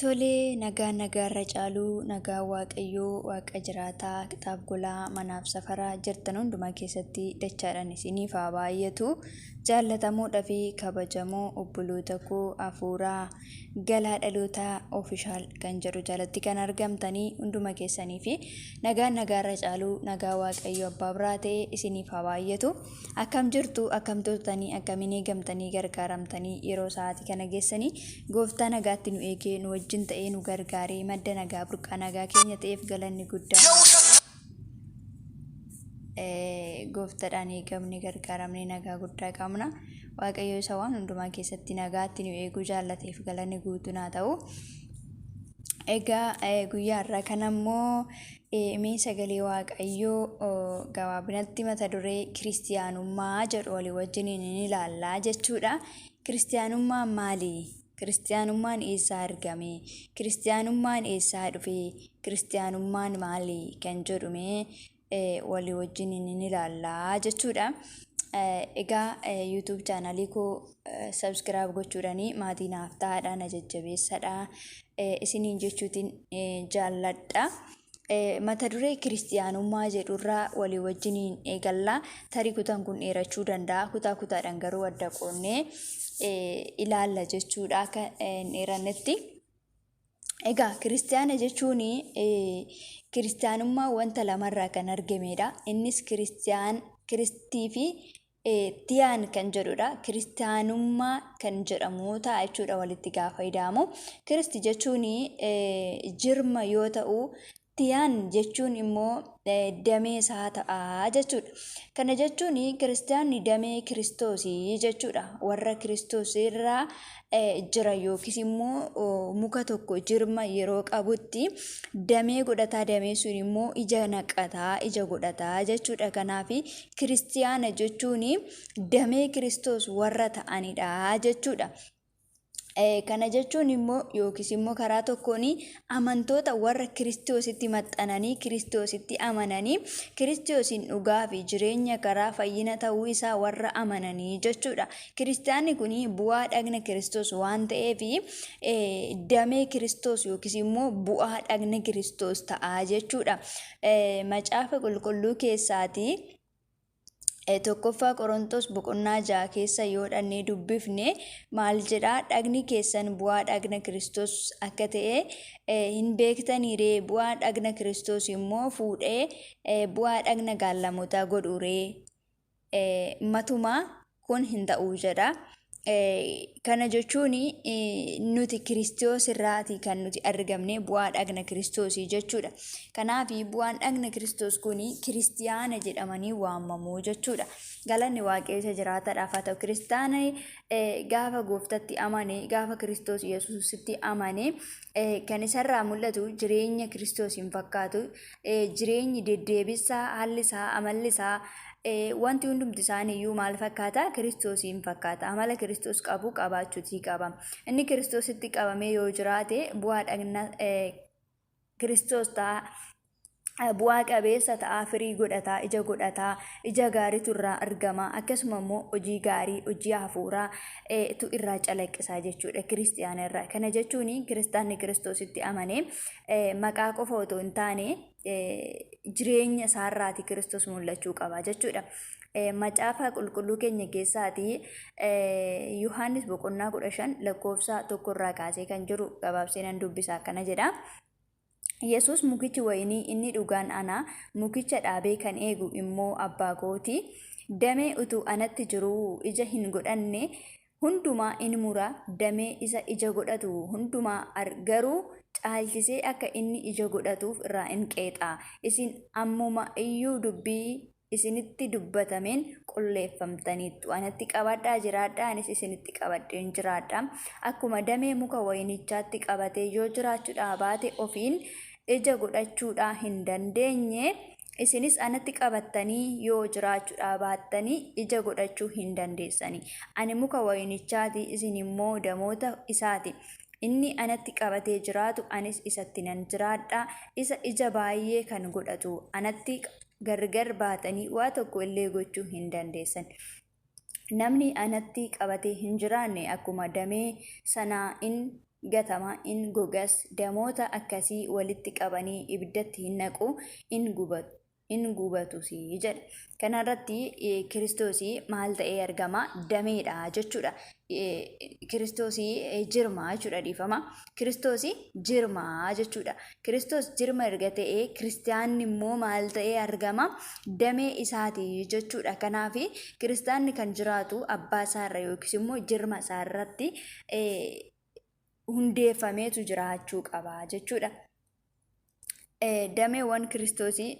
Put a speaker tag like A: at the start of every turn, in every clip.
A: Tolee, nagaan nagaa irra caaluu, nagaan waaqayyoo, waaqa jiraataa, qixaaf golaa, manaaf safaraa, jirtan hundumaa keessatti dachaadhaan isiniif haa baay'atu. Jaallatamoodha fi kabajamoo obboloota koo hafuuraa galaa dhalootaa ofishaal kan jedhu jalatti kan argamtanii hunduma keessanii fi nagaan nagaa irra caaluu, nagaa waaqayyoo abbaa biraa ta'e isiniif haa baay'atu. Akkam jirtu akkam turtanii akkamiin eegamtanii gargaaramtanii yeroo sa'aatii kana geessanii gooftaa nagaatti nu eegee nu wajjin ta'ee nu gargaaree madda nagaa burqaa nagaa keenya ta'eef galanni guddaan eh, gooftaadhaan eegamne gargaaramne nagaa guddaa qabna waaqayyo isa waan hundumaa keessatti nagaatti nu eeguu jaallateef galanni guutuun haa ta'u. Egaa eh, guyyaa har'aa kana immoo Mee sagalee waaqayyoo gabaabinatti mata duree kiristiyaanummaa jedhu walii wajjiniin hin ilaallaa jechuudha. Kiristiyaanummaan maali? Kiristiyaanummaan eessaa argame? Kiristiyaanummaan eessaa dhufe? Kiristiyaanummaan maali? Kan jedhu mee walii wajjiniin hin ilaallaa jechuudha. Egaa YouTube chaanalii koo subscribe gochuudhani maatii naaf ta'aadha na jajjabeessadha isiniin jechuutiin jaalladha. Mata duree kiristiyaanummaa jedhurraa walii wajjiniin eegalla. Tarii kutaan kun dheerachuu danda'a. Kutaa kutaadhaan garuu adda qoonnee ilaalla jechuudha akka hin dheerannetti. Egaa kiristiyaana jechuun kiristiyaanummaa wanta lamarraa kan argamedha. Innis kiristiyaan kiristii fi Tiyaan kan jedhudha. Kiristaanummaa kan jedhamu ta'a jechuudha walitti gaafa ida'amu. Kiristi jechuun jirma yoo ta'u, tiyaan jechuun immoo damee isaa ta'a jechuudha. Kana jechuun kiristaanni damee kiristoosii jechuudha. Warra kiristoos irraa jira yookiis immoo muka tokko jirma yeroo qabutti damee godhataa damee sun immoo ija naqataa ija godhataa jechuudha kanaaf kiristiyaana jechuun damee kiristoos warra ta'anidha jechuudha. Kana jechuun immoo yookiis immoo karaa tokkoon amantoota warra Kiristoositti maxxananii Kiristoositti amananii Kiristoosiin dhugaa fi jireenya karaa fayyina ta'uu isaa warra amananii jechuudha. Kiristaanni kun bu'aa dhagna Kiristoos waan ta'eef damee Kiristoos yookiis immoo bu'aa dhagna Kiristoos ta'a jechuudha. Macaafa qulqulluu keessaatii eh, tokkoffaa Qorontos boqonnaa ja'a keessa yoo dhannee dubbifne maal jedha dhagni keessan bu'aa dhagna Kiristoos akka ta'e eh, hin beektaniiree bu'aa dhagna Kiristoos immoo fuudhee eh, bu'aa dhagna gaallamotaa godhuuree eh, matumaa kun hin ta'u jedha. Kana jechuun nuti kiristoos irraati kan nuti argamne bu'aa dhagna kiristoosii jechuudha. Kanaaf bu'aan dhagna kiristoos kun kiristiyaana jedhamanii waamamu jechuudha. Galanni waaqayyoota jiraataadhaaf haa ta'u kiristaana gaafa gooftatti amane gaafa kiristoos yesuusitti amane kan isarraa mul'atu jireenya kiristoos hin fakkaatu jireenyi deddeebisaa haalli isaa amalli isaa wanti hundumti isaaniiyyuu maal fakkaata kiristoos hin fakkaata amala kiristoos qabu qabaachuutii qaba inni kiristoositti qabamee yoo jiraate bu'aa dhagna kiristoos ta'a bu'aa qabeessa ta'a, firii godhata, ija godhata, ija gaariitu irraa argama, akkasuma immoo hojii gaarii, hojii hafuuraa tu irraa calaqqisaa jechuudha kiristiyaana irraa. Kana jechuun kiristaanni kiristoositti amane maqaa qofa otoo hin taane jireenya isaarraati kiristoos mul'achuu qaba jechuudha. Macaafa qulqulluu keenya keessaati Yohaannis boqonnaa kudha shan lakkoofsa tokko irraa kaasee kan jiru gabaabsee nan dubbisa akkana jedha. Yesuus mukichi wayinii inni dhugaan ana, mukicha dhaabee kan eegu immoo abbaa kooti. Damee utuu anatti jiruu ija hin godhanne hundumaa in mura, damee isa ija godhatu hundumaa garuu caalchisee akka inni ija godhatuuf irraa in qeexa. Isin ammuma iyyuu dubbii isinitti dubbatameen qulleeffamtaniittu. Anatti qabadhaa jiraadhaa, anis isinitti qabadheen jiraadha. Akkuma damee muka wayinichaatti qabatee yoo jiraachuudhaa baate ofiin ija godhachuudhaa hin dandeenye, isinis anatti qabattanii yoo jiraachuudhaa baattanii ija godhachuu hin dandeessani. Ani muka wayinichaati, isin immoo damoota isaati. Inni anatti qabatee jiraatu, anis isatti nan jiraadha. Isa ija baay'ee kan godhatu anatti gargar baatanii waa tokko illee gochuu hin dandeessan. Namni anatti qabatee hin jiraanne akkuma damee sanaa in gatama, in gogas, damoota akkasii walitti qabanii ibiddatti hin naqu, in gubatu. in gubatus jedha. Kanarratti Kiristoos maal ta'ee argama? Dameedha jechuudha. kiristoosii jirmaa jechuudha dhiifama. Kiristoosii jirmaa jechuudha. Kiristoos jirma erga ta'ee kiristaanni immoo maal ta'ee argama damee isaati jechuudha. Kanaaf kiristaanni kan jiraatu abbaa isaarra yookiis immoo jirma isaarratti hundeeffameetu jiraachuu qaba jechuudha. Dameewwan kiristoosii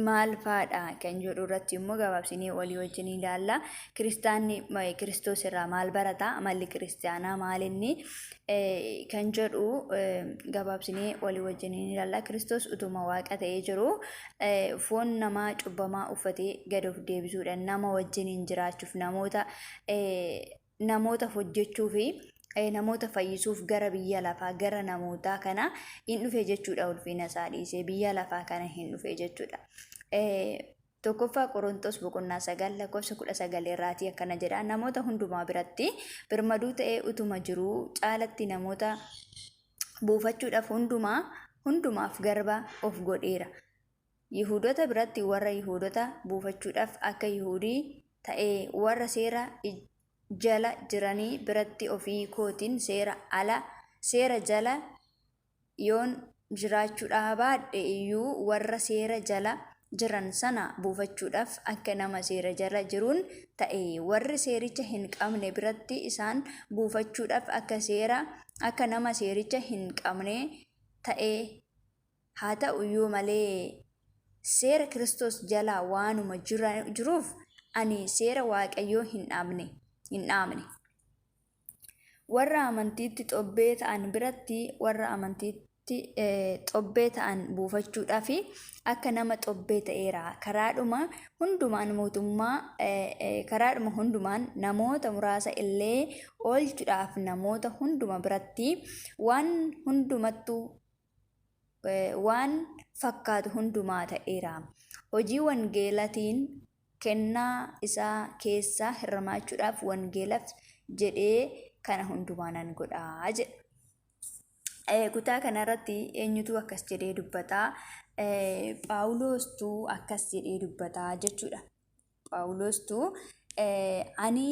A: maal faadha kan jedhu irratti immoo gabaabsinee walii wajjin ilaalla. Kiristaanni Kiristoos irraa maal barata? Amalli kiristaanaa maal inni? Kan jedhu gabaabsinee walii wajjin ilaalla. Kiristoos utuma waaqa ta'ee jiru foon namaa cubbamaa uffatee gad of deebisuudhaan nama wajjin jiraachuuf namoota namoota hojjechuu fi eh, namoota fayyisuuf gara biyya lafaa gara namootaa kana hin dhufe jechuudha ulfina isaa dhiisee biyya lafaa kana hin dhufe jechuudha. Eh, Tokkoffaa Qorontos boqonnaa sagal lakkoofsa kudha sagal irraatii akkana jedha namoota hundumaa biratti birmaduu ta'ee utuma jiruu caalatti namoota buufachuudhaaf hundumaa hundumaaf garba of godheera. Yihuudota biratti warra Yihuudota buufachuudhaaf akka Yihuudii ta'ee warra seera jala jiranii biratti ofii kootiin seera ala, seera jala yoon jiraachuu dhaabaadhe iyyuu warra seera jala jiran sana buufachuudhaaf akka nama seera jala jiruun ta'e. Warri seericha hin qabne biratti isaan buufachuudhaaf akka seera, akka nama seericha hin qabnee ta'ee Haa ta'u iyyuu malee, seera Kiristoos jala waanuma jiruuf ani seera Waaqayyoo hin dhaabne. Warra amantiitti xobbee ta'an biratti warra amantiitti xobbee ta'an buufachuudhaaf akka nama xobbee ta'eera. Karaadhuma hundumaan mootummaa karaadhuma hundumaan namoota muraasa illee oolchuudhaaf namoota hunduma biratti waan hundumattuu waan fakkaatu hundumaa ta'eera. Hojii wangeelatiin kennaa isaa keessaa hirmaachuudhaaf wangeelaf jedhee kana hundumaa nan godha jedha. Eh, Kutaa kanarratti eenyutu akkas jedhee dubbata? Eh, Phaawulostu akkas jedhee dubbata jechuudha. Phaawulostu eh, ani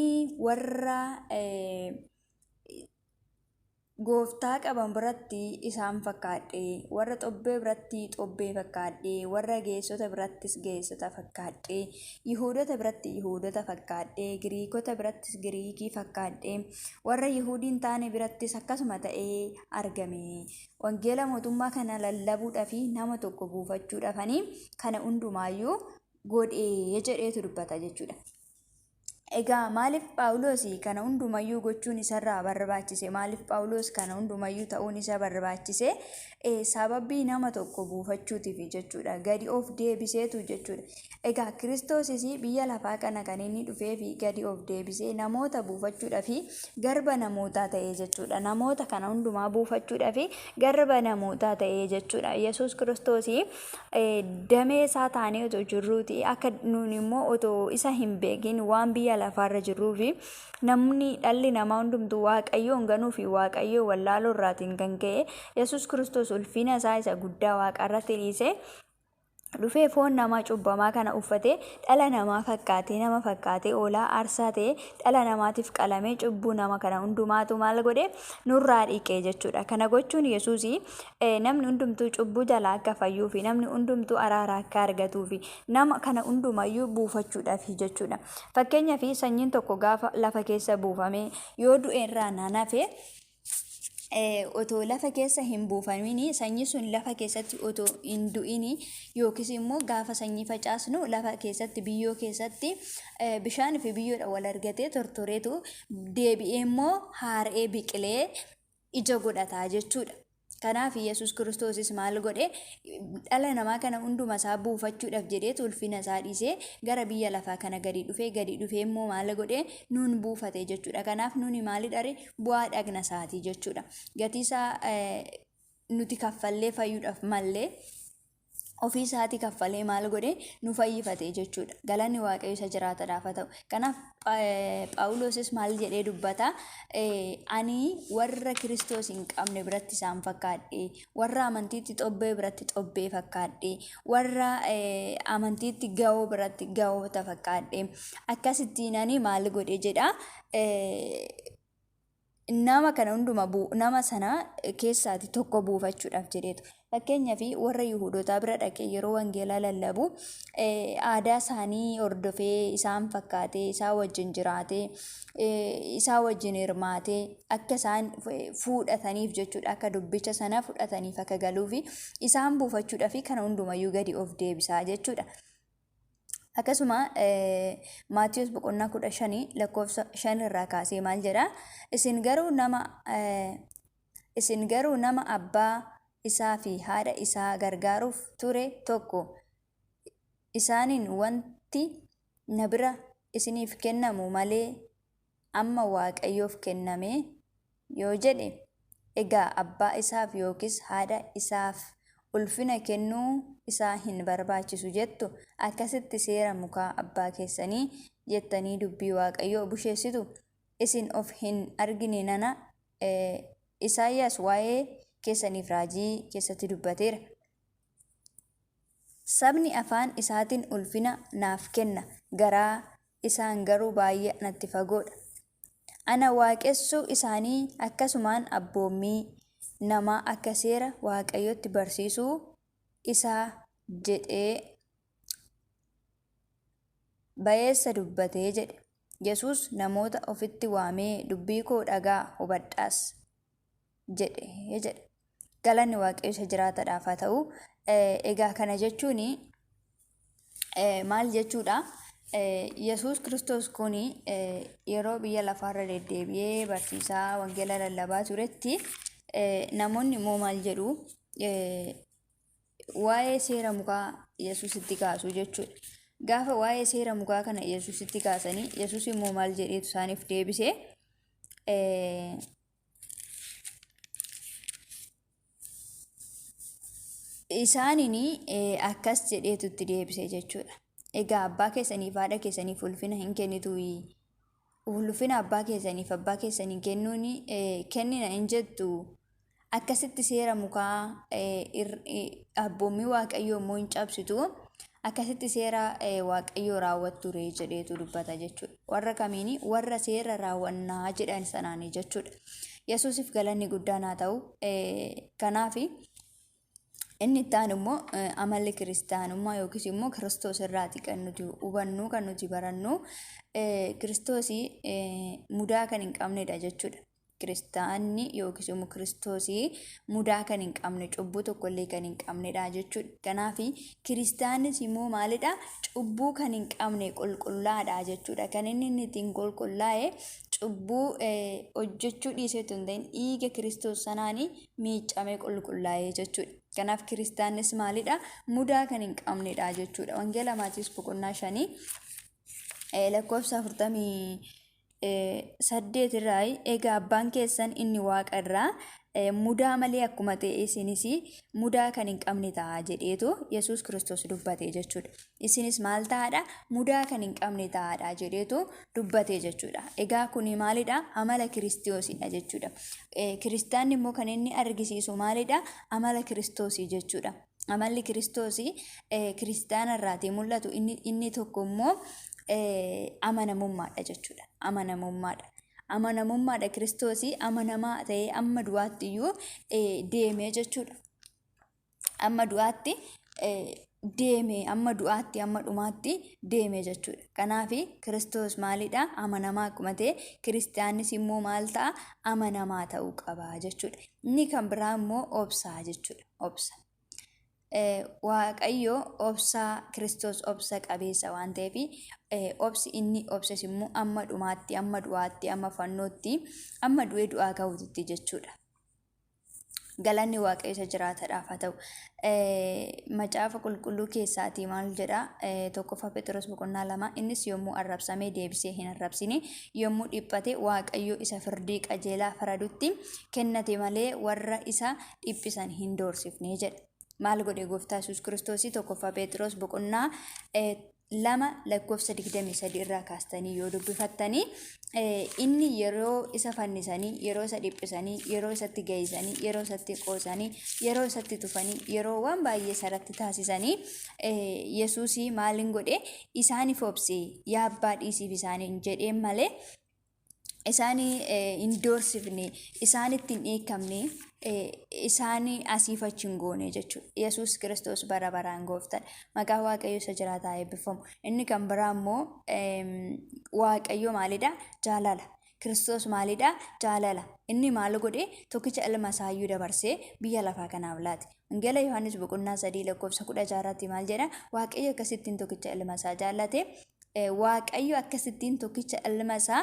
A: warra eh, Gooftaa qaban biratti isaan fakkaadhe, warra xobbee biratti xobbee fakkaadhe, warra geessota birattis geessota fakkaadhe, Yihuudota biratti Yihuudota fakkaadhe, Giriikota birattis Giriikii fakkaadhe, warra Yihuudii hin taane birattis akkasuma ta'ee argame. Wangeela mootummaa kana lallabuudhaaf nama tokko buufachuudhaafanii kana hundumaayyuu godhee jedheetu dubbata jechuudha. Egaa maaliif Phaawulos kana hundumayyuu gochuun isarraa barbaachise? Maaliif Phaawulos kana hundumayyuu ta'uun isa barbaachise? Eh, Sababii nama tokko buufachuutiif jechuudha. Gadi of deebiseetu jechuudha. Egaa Kiristoosis biyya lafaa kana kan inni dhufee fi gadi of deebisee namoota buufachuudhaa fi garba namootaa ta'ee jechuudha. Namoota kana hundumaa buufachuudhaa fi garba namootaa ta'ee jechuudha. Yesuus Kiristoos damee isaa taanee otoo jirruuti akka nuun immoo otoo isa hin beekin waan biyya lafaarra jirruufi namni dhalli namaa hundumtuu waaqayyoon ganuu fi waaqayyoo wallaaloo irraatiin kan ka'e yesus kiristoos ulfina isaa isa guddaa waaqarratti dhiisee dhufee foon namaa cubbamaa kana uffatee dhala namaa fakkaatee nama fakkaatee oolaa aarsaa ta'e dhala namaatiif qalamee cubbuu nama kana hundumaatu maal godhe nurraa dhiqee jechuudha kana gochuun yesuusii namni hundumtuu cubbuu jalaa akka fayyuu fi namni hundumtuu araara akka argatuu fi nama kana hundumayyuu buufachuudhaaf jechuudha. Fakkeenyaaf sanyiin tokko gaafa lafa keessa buufamee yoo du'e irraa naan hafe otoo lafa keessa hin buufamiin sanyii sun lafa keessatti otoo hin du'in yookiis immoo gaafa sanyii facaasnu lafa keessatti biyyoo keessatti bishaan fi biyyoodha wal argatee tortoreetu deebi'ee immoo haara'ee biqilee ija godhata jechuudha. Kanaaf Yesuus Kiristoosis maal godhe dhala namaa kana hunduma isaa buufachuudhaaf jedhee ulfina isaa dhiisee gara biyya lafaa kana gadi dhufee gadi dhufee immoo maal godhe nuun buufate jechuudha. Kanaaf nuuni maalidhare bu'aa dhagna isaati jechuudha. Gatii isaa nuti kaffallee fayyuudhaaf mallee ofii isaatii kaffalee maal godhee nu fayyifate jechuudha. Galanni Waaqayyo isa jiraatadhaaf haa ta'u. Kanaaf Phaawulosis maal jedhee dubbata? Ani warra Kiristoos hin qabne biratti isaan fakkaadhe, warra amantiitti xobbee biratti xobbee fakkaadhe, warra amantiitti ga'oo biratti ga'oota fakkaadhe. Akkasittiin ani maal godhe jedha? nama kana hunduma buu nama sana keessaati tokko buufachuudhaaf jedheetu fakkeenyaaf warra yihuudotaa bira dhaqee yeroo wangeelaa lallabu aadaa isaanii hordofee isaan fakkaatee isaa wajjin jiraatee isaa wajjin hirmaatee akka isaan fuudhataniif jechuudha akka dubbicha sana fudhataniif akka galuufi isaan buufachuudhaaf kana hundumayyuu gadi of deebisaa jechuudha. Akkasuma Maatiyus boqonnaa kudha shanii lakkoofsa shan irraa kaasee maal jedha? Isin garuu nama isin garuu nama abbaa isaa fi haadha isaa gargaaruuf ture tokko isaaniin wanti na bira isiniif kennamu malee amma Waaqayyoof kennamee? yoo jedhe, egaa abbaa isaaf yookiis haadha isaaf ulfina kennuu isaa hin barbaachisu jettu, akkasitti seera mukaa abbaa keessanii jettanii dubbii Waaqayyoo busheessitu, isin of hin argine nana, Isaayyaas waa'ee keessaniif raajii keessatti dubbateera. Sabni afaan isaatiin ulfina naaf kenna, garaa isaan garuu baay'ee anatti fagoo dha. Ana waaqessuu isaanii akkasumaan abboommii namaa akka seera Waaqayyootti barsiisuu isaa jedhee ba'eessa dubbate jedhe. Yesuus namoota ofitti waamee dubbii koo dhaga'aa hubadhaas jedhe jedha. Galanni waaqayyo isa jiraataadhaaf haa ta'u. Egaa kana jechuun maal jechuudha? Yesuus Kiristoos kun yeroo biyya lafaarra deddeebi'ee barsiisaa wangeela lallabaa turetti namoonni immoo maal jedhu? Waa'ee seera mukaa Yesuus itti kaasu jechuudha. Gaafa waa'ee seera mukaa kana Yesuus itti kaasanii Yesuus immoo maal jedheetu isaaniif deebise? Isaanin akkas jedheetu itti deebise jechuudha. Egaa abbaa keessaniif haadha keessaniif ulfina hin kennituuyi. Ulfina abbaa keessaniif abbaa keessanii kennuun kennina hin jettu. Akkasitti seera mukaa abboommii waaqayyoo immoo hin cabsitu. Akkasitti seera Waaqayyoo raawwattu ree jedheetu dubbata jechuudha. Warra kamiini? Warra seera raawwannaa jedhan sanaani jechuudha. Yesuusif galanni guddaan haa ta'u. Kanaaf inni itti aanu immoo amalli kiristaanummaa yookiis immoo kiristoos irraati kan nuti hubannu kan nuti barannu kiristoosii mudaa kan hin qabnedha jechuudha. kiristaanni yookiis immoo kiristoosii mudaa kan hin qabne cubbuu tokkollee kan hin qabnedha jechuudha. Kanaaf kiristaannis immoo maalidha cubbuu kan hin qabne qulqullaadha jechuudha. Kan inni inni ittiin qulqullaa'e cubbuu hojjechuu dhiisee otoo hin ta'in dhiiga kiristoos sanaan miiccamee qulqullaa'e jechuudha. Kanaaf kiristaannis maalidha mudaa kan hin qabnedha jechuudha. Wangeela Maatiyoos boqonnaa shanii lakkoofsa afurtamii saddeet irraa egaa abbaan keessan inni waaqa irraa mudaa malee akkuma ta'e isinis mudaa kan hin qabne ta'a jedheetu yesus kiristoos dubbate jechuudha isinis maal ta'aadha mudaa kan hin qabne ta'aadha jedheetu dubbate jechuudha egaa kuni maalidha amala kiristoosidha jechuudha kiristaanni immoo kan inni argisiisu maalidha amala kiristoosii jechuudha amalli kiristoos kiristaana irraatii mul'atu inni tokko immoo amanamummaadha jechuudha amanamummaadha. Amanamummaadha kiristoos amanamaa ta'ee amma du'aatti iyyuu deemee jechuudha. Amma du'aatti deeme amma du'aatti amma dhumaatti deeme jechuudha. Kanaaf kiristoos maalidha amanamaa akkuma ta'e kiristaannis immoo maal ta'a amanamaa ta'uu qaba jechuudha. Inni kan biraa immoo obsaa jechuudha. obsa. Waaqayyo obsa Kiristoos obsa qabeessa waan ta'eef obsi inni obses immoo amma dhumaatti, amma du'aatti, amma fannootti, amma du'ee du'aa ka'uutti jechuudha. Galanni Waaqayyo isa jiraataadhaaf haa ta'u. Macaafa qulqulluu keessaatii maal jedha? Tokkoffaa Phexros boqonnaa lama innis yommuu arrabsamee deebisee hin arrabsine yommuu dhiphate Waaqayyo isa firdii qajeelaa faradutti kennate malee warra isa dhiphisan hin doorsifne jedha. Maal godhe gooftaa Yesuus Kiristoosii tokkoffaa Pheexiroos boqonnaa eh, lama lakkoofsa 23 irraa kaastanii yoo dubbifattanii eh, inni yeroo isa fannisanii yeroo isa dhiphisanii yeroo isatti ga'isanii yeroo isatti qoosanii yeroo isatti tufanii yeroo waan baay'ee isarratti taasisanii eh, Yesuusii maaliin godhe isaaniif obse yaa abbaa dhiisiif isaaniin jedheen malee isaan hin doorsifne, isaanitti hin dheekkamne, isaan asiif achi hin goone jechuudha. Yesuus Kiristoos bara baraan gooftaadha. Maqaan Waaqayyoo isa jiraataa eebbifamu. Inni kan biraa immoo Waaqayyo maalidha? Jaalala. Kiristoos maalidha? Jaalala. Inni maal godhe? Tokkicha ilma isaayyuu dabarsee biyya lafaa kanaaf laate. Wangeela Yohaannis boqonnaa sadii lakkoofsa kudha jaarratti maal jedha? Waaqayyo akkasittiin tokkicha ilma isaa jaallate Waaqayyo akkasittiin tokkicha ilma isaa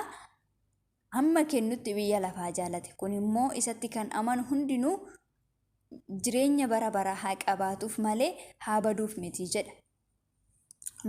A: hamma kennutti biyya lafaa jaalate. Kun immoo isatti kan amanu hundinuu jireenya bara baraa haa qabaatuuf malee haa baduuf miti jedha.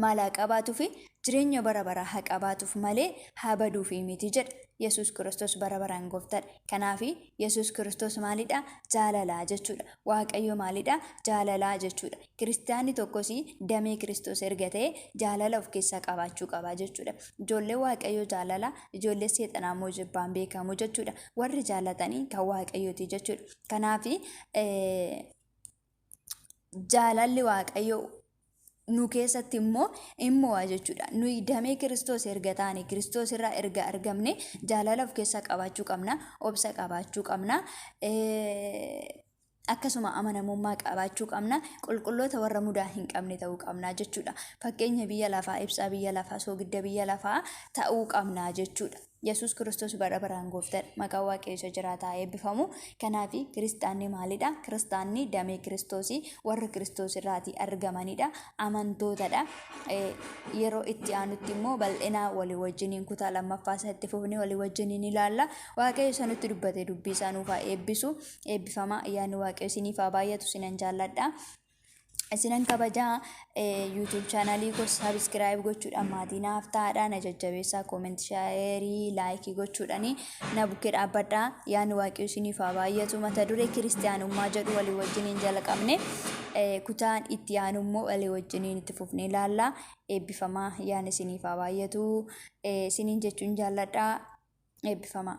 A: Maal haa qabaatuuf jireenya bara baraa haa qabaatuuf malee haa baduuf miti jedha. Yesuus Kiristoos bara baraan gooftadha. Kanaaf Yesuus Kiristoos maalidha? Jaalalaa jechuudha. Waaqayyo maalidha? Jaalalaa jechuudha. Kiristiyaanni tokkos damee Kiristoos erga ta'e jaalala of keessaa qabaachuu qaba jechuudha. Ijoollee Waaqayyoo jaalala, ijoollee seexanaa immoo jibbaan beekamu jechuudha. Warri jaalatanii kan Waaqayyooti jechuudha. Kanaaf jaalalli Waaqayyoo nu keessatti immoo in mo'a jechuudha. Nuyi damee Kiristoos erga taane, Kiristoos irraa erga argamne jaalala of keessaa qabaachuu qabna, obsa qabaachuu qabna. akkasuma amanamummaa qabaachuu qabna qulqulloota warra mudaa hin qabne ta'uu qabna jechuudha fakkeenya biyya lafaa ibsaa biyya lafaa soogidda biyya lafaa ta'uu qabna jechuudha yesus kiristoos bara baraan gooftadha maqaa waaqayyosa jiraataa eebbifamu kanaaf kiristaanni maalidha kiristaanni damee kiristoosii warra kiristoos irraatii argamanidha amantootadha yeroo itti aanutti immoo bal'inaa walii wajjiniin kutaa lammaffaa isaa itti fufnee walii wajjiniin ilaalla waaqayyo isa nutti dubbate dubbii isaa nuufaa eebbisu eebbifamaa ayyaanni waaqayyo isiniif haa baay'atu isinan jaalladha. Isinan kabajaa YouTube chaanalii koo sabiskiraayib gochuudhaan maatii naaf ta'aadha na jajjabeessaa koomenti shaayerii laayikii gochuudhaan na bukkee dhaabbadha yaani waaqayyo isiniif haa baay'atu mata duree kiristiyaanummaa jedhu walii wajjin hin jalqabne kutaan itti aanu immoo walii wajjin itti fufnee ilaalla eebbifamaa yaani isiniif haa baay'atu isiniin jechuun jaalladha eebbifamaa.